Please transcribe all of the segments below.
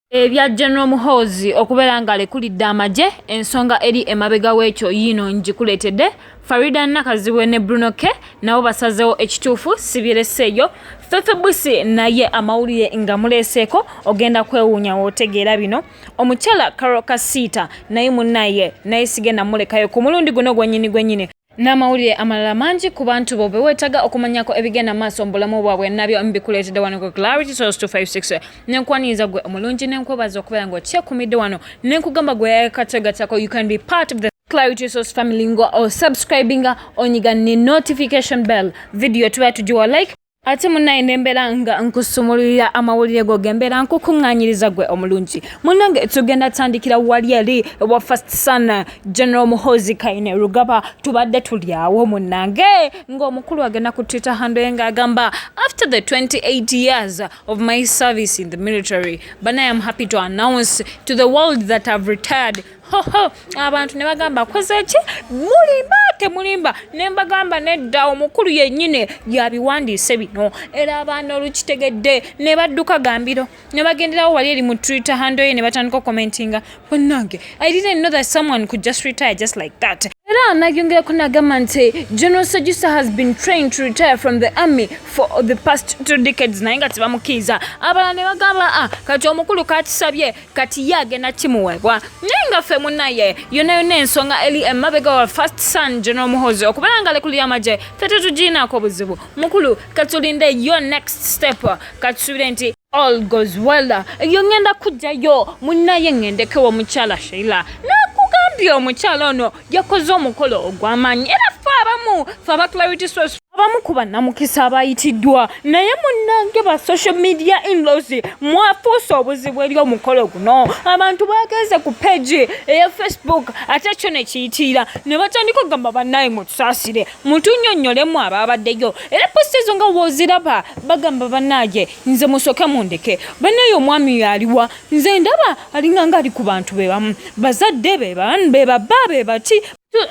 Ebya General Muhoozi okubeera ng'alekulidde amagye ensonga eri emabega w'ekyo yiino ngikuleetedde. Faridah Nakazibwe ne Bruno K nabo basazeewo ekituufu sibireseeyo. Fefe Busi naye amawulire nga muleeseeko ogenda kwewuunya w'otegeera bino. Omukyala Carol Kasiita naye munnaye naye sigenda mulekayo ku mulundi guno gwennyini gwennyini. n'amawulire amalala mangi ku bantu bo bewetaga okumanyako ebigenda maaso mu bulamu bwabwe nabyo mbikuleetedde wano ku clarity source 256 nenkwaniriza gwe omulungi nenkwebaza okubeera nga okyekumidde wano nenkugamba gwe yayakategatako you can be part of the clarity source family ngo osubscribinga onyiga ne notification bell video tuba tugiwa like ate munaye nembeera nga nkusumululira amawulire go gembeera nkukuŋŋanyiriza gwe omulungi munange tugenda tandikira wali eri wa first son general muhozi kaine rugaba tubadde tulyawo munange ng'omukulu agenda ku twitter handoye ng'agamba after the 28 years of my service in the military banaye am happy to announce to the world that have retired hoho abantu ne bagamba koze ki mulimba temulimba ne mbagamba nedda omukulu yennyini yabiwandiise bino era abaana olukitegedde ne badduka gambiro ne bagenderawo wali eri mu twitter hando ye ne batandika okomentinga bannange i didn't know that someone could just retire just like that era nayongerako nagamba nti general sejusa has been trained to retire from the army for the past two decades naye nga tebamukiiza abalala ne bagamba a ah, kati omukulu kakisabye kati ye agenda kimuwebwa naye nga ffe munaye yona yona ensonga eli emabega wa first son general muhozi okubeera nga lekulu yamagye fe tetugiinaako buzibu mukulu katulinde yo next step katusubire nti all goes well eyo ngenda kujjayo munaye ngendekewo mukyala sheila nakugambye omukyala ono yakoze omukolo ogw'amaanyi era ffe abamu fe aba clarity source abamu ku bannamukisa abayitiddwa naye munnange ba social media inlos mwafuusa obuzibu eri omukolo guno abantu bagenze ku peegi eya facebook ate kyo ne kiyitiira ne batandika okugamba bannaye mutusaasire mutunyonnyolemu abaabaddeyo era posti ezo nga wooziraba bagamba bannaye nze musooke mundeke bannaye omwami yaliwa nze ndaba alinga nga ali ku bantu be bamu bazadde be ban be baba be bati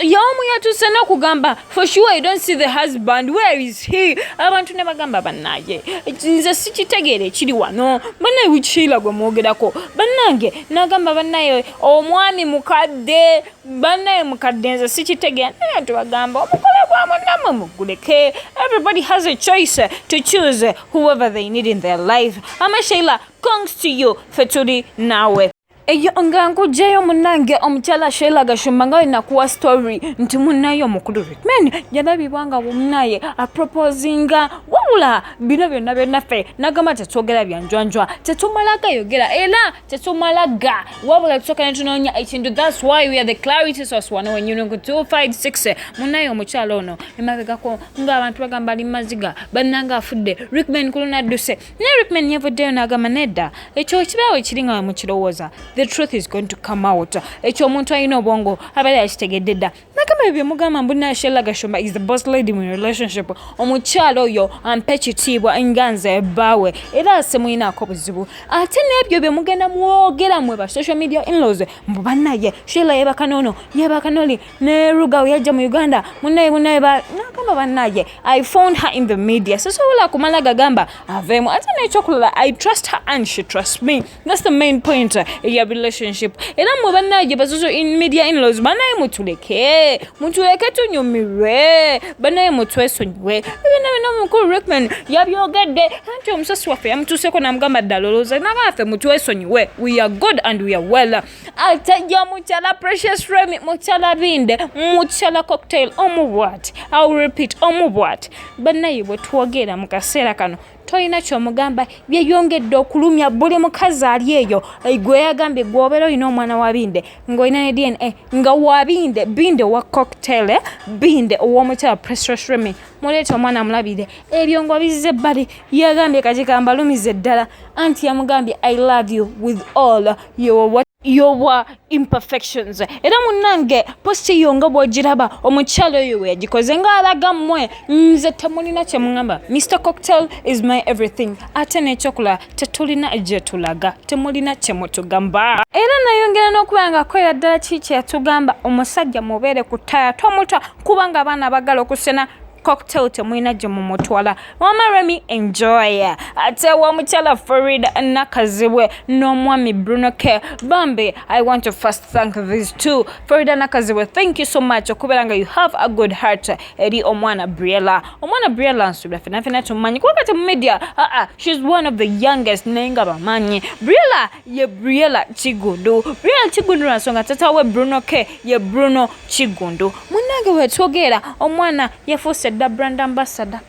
yomu yatuse nokugamba for sure i don't see the husband where is he abantu ne bagamba banaye nze sikitegeera ekiri wano banaye wikihiila gwe mwogerako banange nagamba banaye omwami mukadde banaye mukadde nze sikitegeera naye tubagamba omukole gwamunamwe muguleke everybody has a choice to choose whoever they need in their life amashaila congs to you fe tuli naawe eyo nga nkugyeyo munange omukyala sheila gashumba nga wenakuwa story nti munaye omukulu rikman yalabibwa nga munaye aproposinga wabula bino byonna byonaffe nagamba tetwogera byanjwanjwa tetumala gayogera era tetumala ga wabula tusoka netunoonya ekintu thats why weare the clarity source wano wenyunungu 256 munaye omukyala ono emabegako ngaabantu bagamba ali maziga bannanga afudde rikman kuluna adduse naye rickman yavuddeyo n'agamba nedda ekyo ekibaawo ekiri nga wemukirowooza the truth is going to come out ekyo omuntu alina obwongo abali akitegedde dda nagamba ebyo byemugamba mbu nashella gashumba is the boss lady mu relationship omukyalo oyo ampe kitiibwa nga nze ebbaawe era asemuyinaako buzibu ate n'ebyo byemugenda mwogera mwe ba social media inlaws mbu banaye shella yebaka noono yebaka noli ne ruga yajja mu uganda munaye munaye nagamba banaye i found her in the media sisobola kumala gagamba aveemu ate nekyokulala i trust her and she trust me thats the main point ya relationship era mwe banaye bazuzu in media inlaws banaye mutuleke mutuleke tunyumirwe banaye mutwesonyiwe ebina bina omukulu rickman yabyogedde anti omusasi waffe yamutuuseko namugamba ddala olowooza nabaffe mutwesonyiwe we are good and we are well atajja mukyala precious remy mukyala binde mukyala cocktail omu bwati au repeat omu bwati bannaye bwe twogera mu kaseera kano tolina kyomugamba byeyongedde okulumya buli mukazi ali eyo gwe yagambye gweobeera olina omwana wa binde ngaolina ne dna nga wa binde binde owa cocktail eh? binde owomukyala precious remy muleeta omwana amulabire ebyo nga bizze ebbali yagambye kati kambalumize ddala anti yamugambye i love you with all yowa yowa imperfections era munange posti eyo nga bwogiraba omukyalo oyo weyagikoze nga alaga mmwe nze temulina kyemugamba mr cocktail is my everything ate nekyokulaba tetulina gyetulaga temulina kyemutugamba era nayongera n'okuba nga akolera ddala kiki kyeyatugamba omusajja mubeere ku ttaya tomuta kubanga abaana bagala okusena cocktail temulina gye mumutwala mama remi enjoy ate womukyala farid nakazibwe n'omwami bruno k bambi i want to first thank these two farida nakazibwe thank you so much okubeera nga you have a good heart eri omwana briella omwana briella nsubira fenafena tumanyi kubanga temumedia aa ah, ah, shes one of the youngest naye nga bamanyi briella ye briela kigundu briela kigundu lwansonga tata we bruno k ye bruno kigundu munange wetwogeera omwana yafuuse dda brand ambassador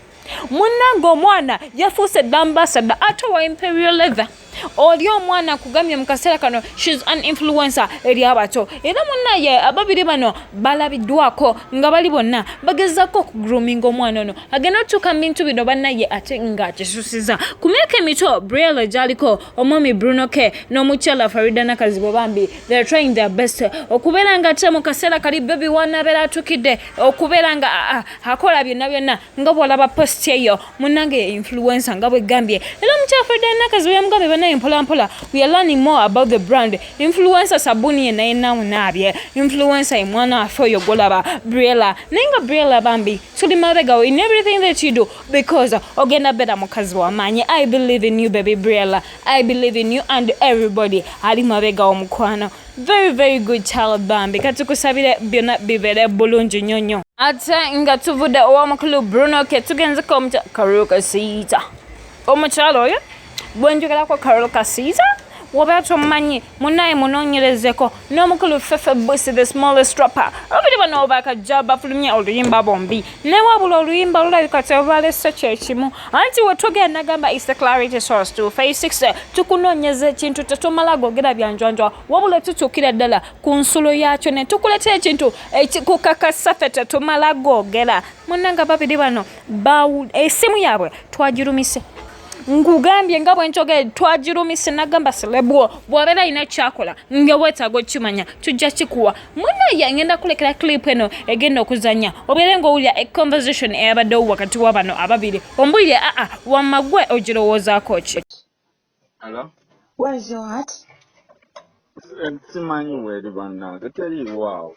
munange omwana yafuuse dda ambassador ate wa imperial leather oli omwana kugamye mu kaseera kano shes an influencer eri abato era munaye ababiri bano balabiddwako nga bali bonna bagezako okugruminga omwana ono agenda otuuka mu bintu bino banaye ate ng'akisusiza ku myaka emito briel gyaliko omwami bruno k n'omukyala farida nakazibo bambi they're trying their best okubeera nga ate mu kaseera kali bebi wanabeera atukidde okubeera nga akola byonna byonna nga bwolaba post eyo munange influensa nga bwegambye era omukyala farida nakazibo yamugambye banaye mpolampola we are learning more about the brand influensa sabuni ye naye nawunaabye influensa ye mwana wafe oyo golaba brela naye nga brela bambi tuli mabegawo in everything that you do because ogenda beera mukazi wamaanyi i believe in you baby briella i believe in you and everybody ali mabega omukwano very very good child bambi kati kusabire byonna bibeere bulungi nnyo nnyo ate nga tuvudde ow'omukulu bruno ke tugenzeko omukyakaruka siita omukyalo oyo bwenjogerako carol kasiita wobeera tomumanyi munaye munonyerezeko n'omukulu fefe busi the smallest rapper abiri bano bakajja bafulumye oluyimba bombi naye wabula oluyimba lulabika tebalese kyekimu anti wetugenda gamba is the clarity source to face 6 tukunonyeza ekintu tetumala gogera byanjwanjwa wabula tutuukira ddala ku nsulo yaakyo ne tukuletera ekintu ekikukakasa fe tetumala gogera munanga babiri bano esimu yaabwe twagirumise nkugambye nga bwenkyogere twagirumisa nagamba selebwo bwabeera alina ekyakola nga wetaaga okukimanya tujja kikuwa munaye ngenda kulekera clip eno egenda okuzanya obeere ngaowulira econversation eyabaddewo wakati wa bano ababiri ombulire aa wamagwe ogirowoozaako ki simanyi weri bannange teriiwaawo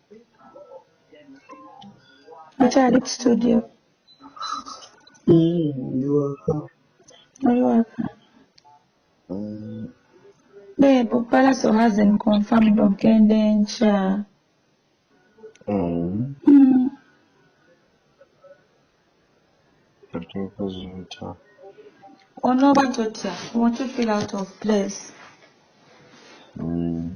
Mukyali ku studio. Mm, ndi waka. Oli waka. Mm. Babe, Palaso hasn't confirmed ogenda enkya. Mm. Mm. Otuuka zintya. Onooba totya. Won't you feel out of place? Mm.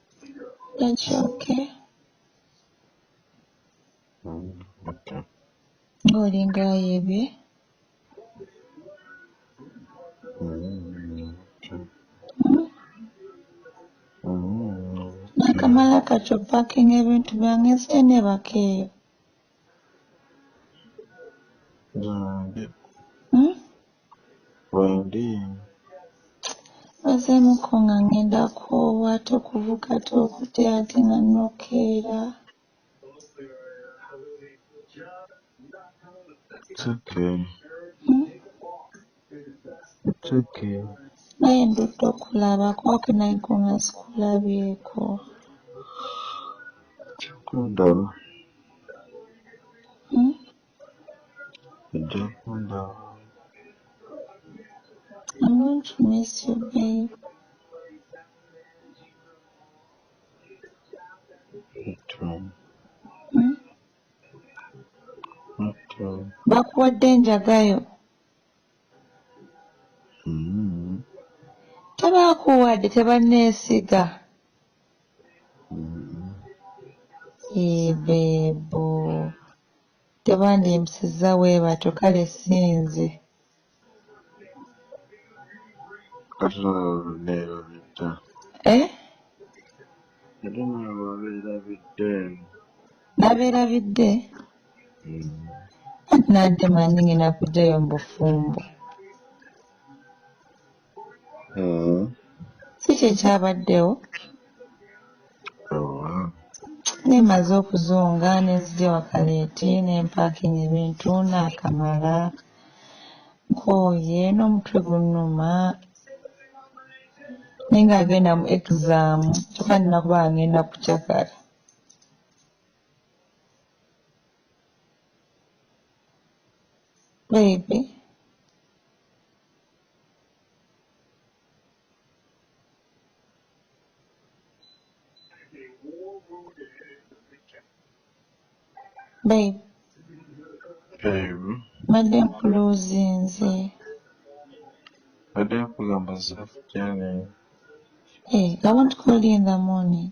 Ekyoke. Ng'olinga ayebye. Nakamala kati opakinga ebintu byange nzije nebaka eyo. Hmm? Wendi. Nsazeemu ko nga ngenda koowa ate okuvuga ate okute ate nga nokeera. It's okay. Hmm? It's okay. Naye ndudde okulaba kwako naye ko nga sikulabyeko. Kikundaba. Ojja kundaba. I'm going to miss you, babe. Hmm? bakuwadde enjagayo hmm. tebakuwadde tebanneesiga hmm. ebeebo Tebandiyimpisizza bwe batyo, kale si nze. Ate naawe wabeerabidde. Eh? Ate naawe wabeerabidde. Nabeerabidde? Mm. Anti nantema ndi ng'enda kuggyayo mu bufumbo. mm. kiki ekyabaddewo nemaze okuzunga nenzija wakaleeti nempakinga ebintu nakamala nkooye n'omutwe gunnuma naye nga agenda mu exam kyokka nina kuba agenda kucakala baby Babe. Babe. Mbadde nkuloozinze. Mbadde nkugamba zaafu gyane. Hey, I won't call you in the morning.